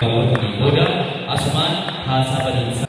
Daawwatanii booda asumaan haasaa baniinsaa.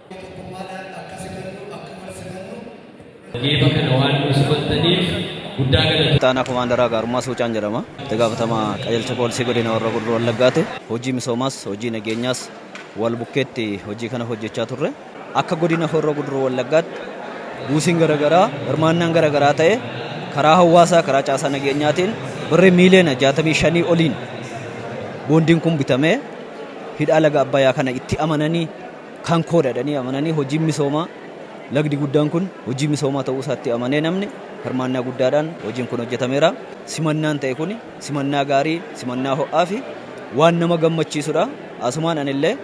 Geeba kana waan nu simattaniif guddaa galatoomna. Itti aanaa komaandaraa Gaarummaa Suucaan jedhama. Itti gaafatamaa qajeelcha poolisii godina warra gurruu wallaggaati. Hojii misoomaas hojii nageenyaas wal bukkeetti hojii kana hojjechaa turre. Akka godina horroo guduruu wallaggaatti buusiin garaagaraa hirmaannaan garaagaraa ta'e karaa hawaasaa karaa caasaa nageenyaatiin birrii miiliyoona 65 oliin boondiin kun bitamee hidhaa laga abbayaa kana itti amananii kan koodha jedhanii amananii hojiin misoomaa lagdi guddaan kun hojii misoomaa ta'uu isaatti amanee namni hirmaannaa guddaadhaan hojiin kun hojjetameera. Simannaan ta'e kun simannaa gaarii, simannaa ho'aa fi waan nama gammachiisudha. Asumaan anillee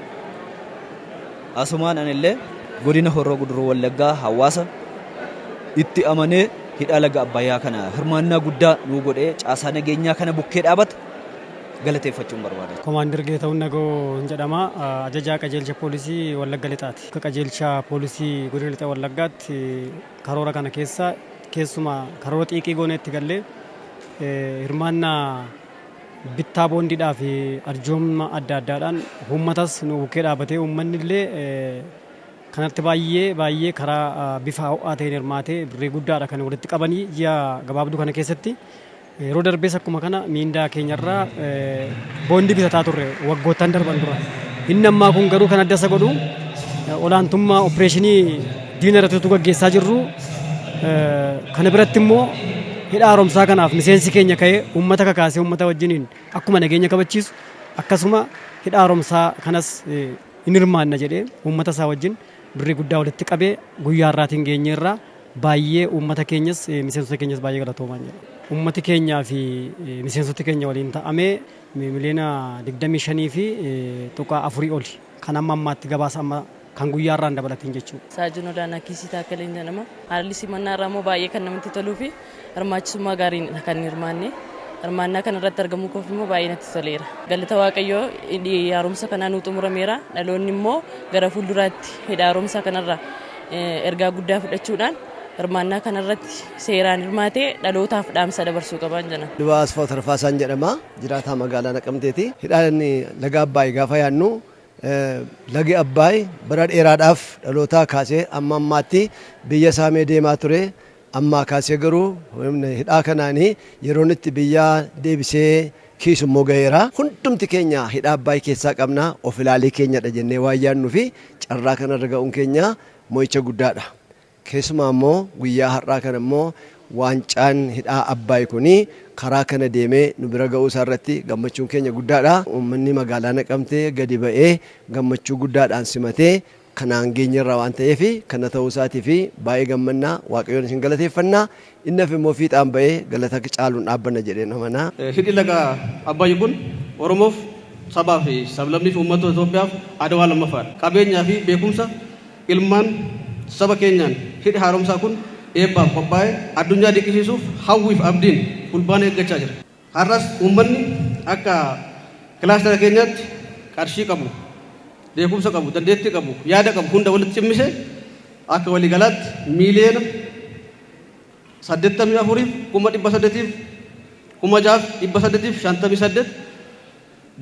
asumaan anillee godina Horroo Guduruu Wallaggaa hawaasa itti amanee hidhaa laga Abbayyaa kana hirmaannaa guddaa nuu godhee caasaa nageenyaa kana bukkee dhaabata. galateeffachuun barbaada. Komaandar Geetahun Nagawoo hin jedhama. Ajajaa Qajeelcha Poolisii Wallagga Lixaati. Akka Qajeelcha Poolisii Godina Lixa Wallaggaatti karoora kana keessa keessumaa karoora xiiqii goonee itti gallee hirmaannaa bittaa boondiidhaa fi arjooma adda addaadhaan uummatas nu bukkee dhaabatee uummanni illee kanatti baay'ee baay'ee karaa bifa ho'aa ta'een hirmaatee birrii guddaadha kan walitti qabanii ji'a gabaabduu kana keessatti Yeroo darbees akkuma kana miindaa keenyarraa boondii bitataa turre waggoottan darban dura. Inni ammaa kun garuu kan adda isa godhu olaantummaa opereeshinii diina irratti utuu gaggeessaa jirru kana biratti immoo hidha haaromsaa kanaaf miseensi keenya ka'ee uummata kakaasee uummata wajjiniin akkuma nageenya kabachiisu akkasuma hidha haaromsaa kanas hin hirmaanna jedhee uummata isaa wajjin birrii guddaa walitti qabee guyyaa irraatiin geenyeerraa Baayyee uummata keenyas miseensota keenyas baayyee galatoomaan jedha. Uummati keenyaa fi miseensoti keenya waliin ta'amee miliyoona 25 fi tuqaa 4 oli kan amma ammaatti gabaasa amma kan guyyaa irraan dabalatiin jechuudha. Saajuun Olaanaa Kiisii Taakkaleen jedhama. Haalli simannaa irraa immoo baayyee kan namatti toluu fi Hirmaachisummaa gaariinidha kan hirmaanne. Hirmaannaa kana irratti argamuu koof immoo baay'ee natti toleera. Galata Waaqayyoo hidhi haaromsa kanaa nuu xumurameera. Dhaloonni immoo gara fuulduraatti hidha haaromsaa kanarraa ergaa guddaa fudhachuudhaan hirmaannaa kanarratti seeraan hirmaatee dhalootaaf dhaamsa dabarsuu qabaan jedha. Lubaa Asfaaw Tarfaasaan jedhama. Jiraataa magaalaa Naqamteeti. Hidhaan laga Abbaay gaafa yaadnu lagi Abbaay bara dheeraadhaaf dhalootaa kaasee amma ammaatti biyya saamee deemaa ture. Ammaa kaasee garuu humna hidhaa kanaan yeroon itti biyya deebisee kiisu immoo gaheera. Hundumti keenya hidhaa Abbaay keessaa qabna, of ilaalii keenyadha jennee waan yaadnuu fi carraa kana irra ga'uun keenya mo'icha guddaa dha. Keessumaa immoo guyyaa har'aa kana immoo waancaan hidhaa Abbaay kun karaa kana deemee nu bira ga'uu isaa irratti gammachuun keenya guddaa dha. Uummanni magaalaa Naqamtee gadi ba'ee gammachuu guddaadhaan simatee kanaan geenyerra waan ta'eef kana ta'uu isaatiif baay'ee gammanna waaqayyoon isin galateeffanna inni hafe immoo fiixaan ba'ee galata caaluun dhaabbanna jedheen amana. Hidhi laga Abbayyi kun Oromoof, sabaa fi sablammii fi uummattoota Itoophiyaaf Adwaa lammaffaa dha. Qabeenyaa fi beekumsa ilmaan saba keenyaan hidhi haaromsaa kun eebbaaf qophaa'ee addunyaa dinqisiisuuf hawwii fi abdiin Fulbaana eeggachaa jira. Har'as uummanni akka kilaastara keenyaatti qarshii qabu, beekumsa qabu, dandeettii qabu, yaada qabu hunda walitti cimmisee akka waliigalaatti miiliyoona 84 fi kuma 800 fi kuma 6 fi 858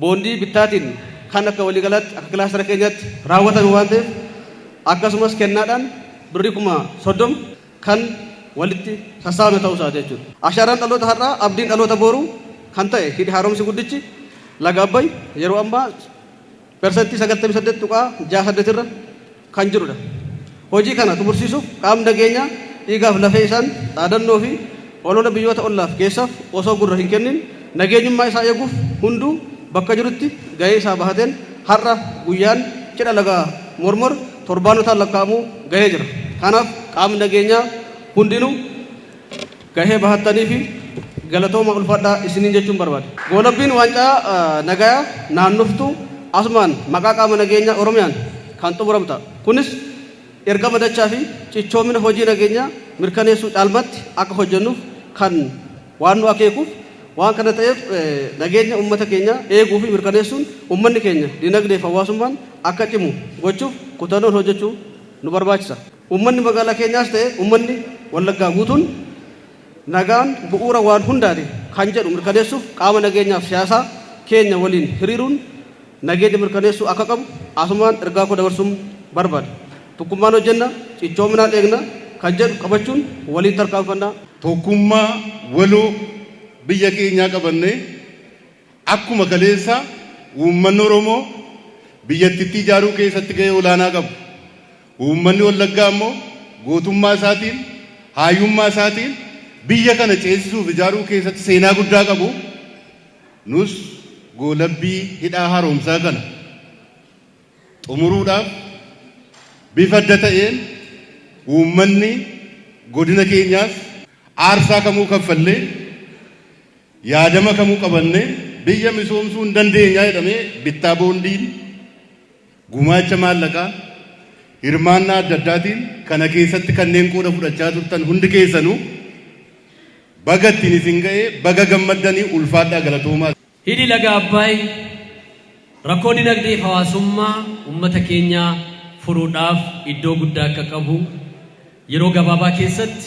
boondii bittaatiin kan akka waliigalaatti akka kilaastara keenyaatti raawwatame waan ta'eef akkasumas kennaadhaan birrii kuma 30 kan walitti sassaabame ta'uu isaati jechuudha. Ashaaraan dhaloota har'aa abdiin dhaloota booruu kan ta'e hidhi haaromsi guddichi laga Abbay yeroo ammaa persentii 98.68 irra kan jiru dha. Hojii kana xumursiisuuf qaamni nageenyaa dhiigaaf lafee isaan dhaadannoo fi olola biyyoota ollaaf geessaaf osoo gurra hin kennin nageenyummaa isaa eeguuf hunduu bakka jirutti gahee isaa bahateen har'a guyyaan cidha laga Mormor torbaanotaan lakkaa'amu gahee jira. Kanaaf qaamni nageenyaa hundinuu. gahee bahattaniifi galatoomaa ulfaadhaa isiniin jechuun barbaada. Goolabbiin waancaa nagayaa naannoftu asumaan maqaa qaama nageenyaa Oromiyaan kan xumuramu ta'a. Kunis ergama dachaafi cichoomina hojii nageenyaa mirkaneessuu caalmaatti akka hojjennuuf kan waan nu akeekuuf waan kana ta'eef nageenya ummata keenyaa eeguufi mirkaneessuun ummanni keenya dinagdeefi hawaasummaan akka cimu gochuuf kutannoon hojjechuu nu barbaachisa. Uummanni magaalaa keenyaas ta'e uummanni Wallaggaa guutuun nagaan bu'uura waan hundaati kan jedhu mirkaneessuuf qaama nageenyaaf siyaasaa keenya waliin hiriiruun nageenya mirkaneessuu akka qabu asumaan ergaa koo dabarsuun barbaada. Tokkummaan hojjenna, cichoominaan eegna kan jedhu qabachuun waliin tarkaanfanna. Tokkummaa waloo biyya keenyaa qabannee akkuma kaleessaa uummanni Oromoo biyyattittii ijaaruu keessatti gahee olaanaa qabu. Uummanni Wallaggaa immoo gootummaa isaatiin, haayummaa isaatiin biyya kana ceesisuu fi ijaaruu keessatti seenaa guddaa qabu. Nus goolabbii Hidhaa Haaromsaa kana xumuruudhaaf bifa adda ta'een uummanni godina keenyaas aarsaa kamuu kaffallee, yaadama kamuu qabannee biyya misoomsuu ni dandeenya jedhamee bittaa boondiin Gumaacha maallaqaa, hirmaannaa adda addaatiin kana keessatti kanneen qooda fudhachaa turtan hundi keessanuu baga ittiin isin ga'e, baga gammaddani, ulfaadhaa galatoomaa. Hidhi Laga Abbaay rakkoo dinagdee fi hawaasummaa uummata keenyaa furuudhaaf iddoo guddaa akka qabu, yeroo gabaabaa keessatti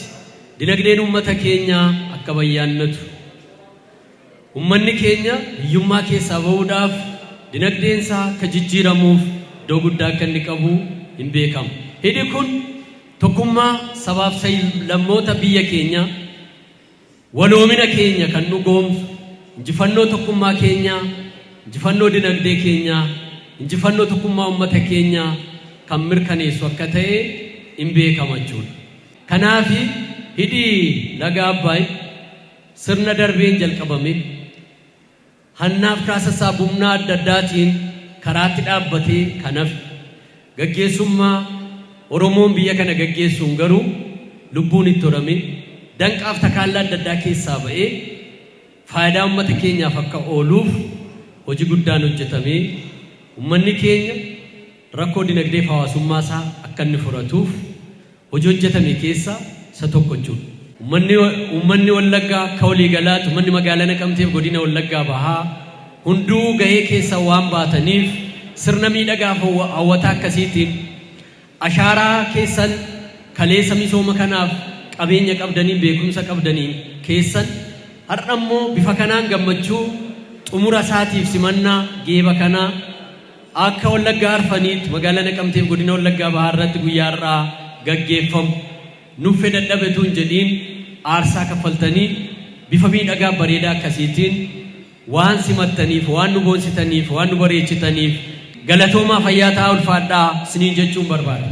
dinagdeen uummata keenyaa akka bayyaannatu, Ummanni keenya hiyyummaa keessaa ba'uudhaaf dinagdeen isaa akka jijjiiramuuf iddoo guddaa akka inni qabu hin beekama. Hidhi kun tokkummaa sabaaf sab-lammoota biyya keenyaa, waloomina keenya kan dhugoomsu, injifannoo tokkummaa keenyaa, injifannoo dinagdee keenyaa, injifannoo tokkummaa ummata keenyaa kan mirkaneessu akka ta'e in beekama jechuudha. Kanaafi hidhi laga Abbaay, Sirna darbeen jalqabame hannaaf kaasassaa bumnaa adda addaatiin karaatti dhaabbatee kan hafe gaggeessummaa Oromoon biyya kana gaggeessuun garuu lubbuun itti horamee danqaaf takaallaa adda addaa keessaa ba'ee faayidaa ummata keenyaaf akka ooluuf hoji guddaan hojjetamee ummanni keenya rakkoo dinagdeef hawaasummaa isaa akka inni furatuuf hojii hojjetame keessaa isa tokko jechuudha. Ummanni Ummanni Wallaggaa akka walii galaatti ummanni magaalaa Naqamteef godina Wallaggaa bahaa hunduu gahee keessan waan baataniif sirna miidhagaa fi hawwataa akkasiitiin ashaaraa keessan kaleessa misooma kanaaf qabeenya qabdaniin beekumsa qabdaniin keessan har'a immoo bifa kanaan gammachuu xumura isaatiif simannaa geeba kanaa Akka Wallagga Arfaniitti Magaalaa Naqamtee fi Godina Wallaggaa Bahaa irratti guyyaa har'aa gaggeeffamu nuffe dadhabe utuu hin jedhiin aarsaa kaffaltanii bifa miidhagaa fi bareedaa akkasiitiin waan simattaniif, waan nu boonsitaniif, waan nu bareechitaniif galatoomaa fayyaa ta'aa ulfaadhaa isiniin jechuun barbaada.